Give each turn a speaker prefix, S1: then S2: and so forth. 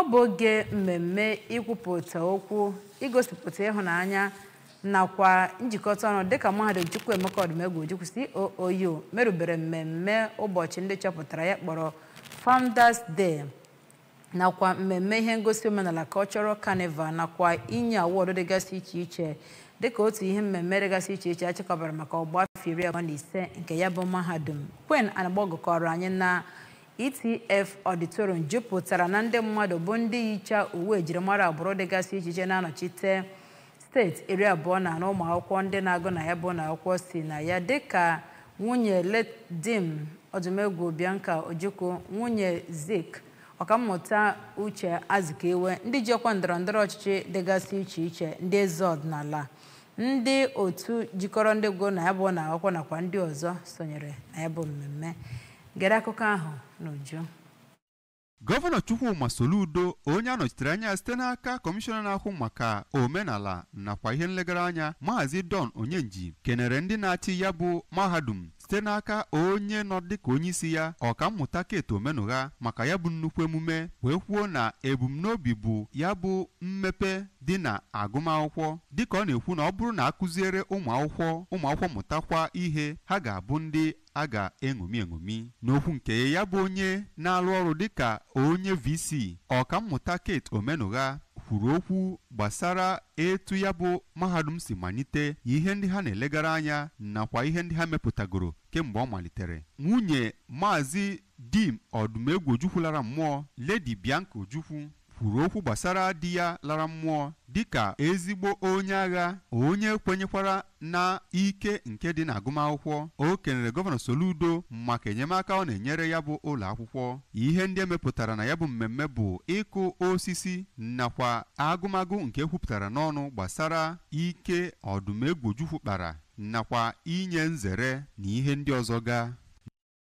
S1: ọ bụ oge mmemme ikwupụta okwu igosipụta ịhụnanya nakwa njikọta ọnụ dịka mahadum Chukwuemeka Odumegwu Ojukwu COOU merubere mmemme ụbọchị ndị chọpụtara ya kpọrọ Founders Day nakwa mmemme ihe ngosi omenala Cultural Carnival nakwa inye awọdụ dịgasị iche iche dịka otu ihe mmemme dịgasị iche iche achịkọbara maka ọgba afọ iri abụọ na ise nke ya bụ mahadum Queen Anagbogu kọrọ anyị na ETF Auditorium jupụtara na ndị mmadụ bụ ndị yicha uwe ejirimara agbụrụ dịgasị iche iche na-anọchite steeti iri abụọ na anọ ụmụ akwụkwọ ndị na-agụ na ya bụ ụnọ akwụkwọ si na ya dịka nwunye late Dim Odumegwu Bianca Ojukwu nwunye Zik ọkammụta Uche Azikiwe ndị ji ọkwa ndọrọ ndọrọ ọchịchị dịgasị iche iche ndị eze ọdịnala ndị otu jikọrọ ndị gụrụ na ya bụ ụnọ akwụkwọ nakwa ndị ọzọ sonyere na ya bụ mmemme Gere akụkọ ahụ n'uju.
S2: Gọvanọ Chukwuma Soludo onye anọchitere anya ya site n'aka kọmishọna na-ahụ maka omenala nakwa ihe nlegara anya maazị Don Onyenji kenere ndị na-achị ya bụ mahadum site n'aka onye nọ dịka onye isi ya ọkammụta Kate Omenụgha maka ya bụ nnukwu emume wee kwuo na ebumnobi bụ ya bụ mmepe dị na agụmakwụkwọ dịka ọ na-ekwu na ọ bụrụ na akụziere ụmụ akwụkwọ ụmụ akwụkwọ mụtakwa ihe ha ga-abụ ndị a ga-eṅomi eṅomi. N'okwu nke ya ya bụ onye na-arụ ọrụ dịka onye VC, Ọkammụta Kate Omenụgha kwuru okwu gbasara etu ya bụ mahadum si malite, ihe ndị ha na-elegara anya nakwa ihe ndị ha mepụtagoro kemgbe ọ malitere. Nwunye Maazị Dim Odumegwu Ojukwu lara mmụọ, Lady Bianca Ojukwu, kwuru okwu gbasara di ya lara mmụọ dịka ezigbo onye agha, onye kwenyekwara na ike nke dị n'agụmakwụkwọ. O kenere Gọvanọ Soludo maka enyemaka ọ na-enyere ya bụ ụlọakwụkwọ. Ihe ndị emepụtara na ya bụ mmemme bụ ịkụ osisi nakwa agụmagụ nke ekwupụtara n'ọnụ gbasara ike Odumegwu Ojukwu kpara nakwa inye nzere na ihe ndị ọzọ ga.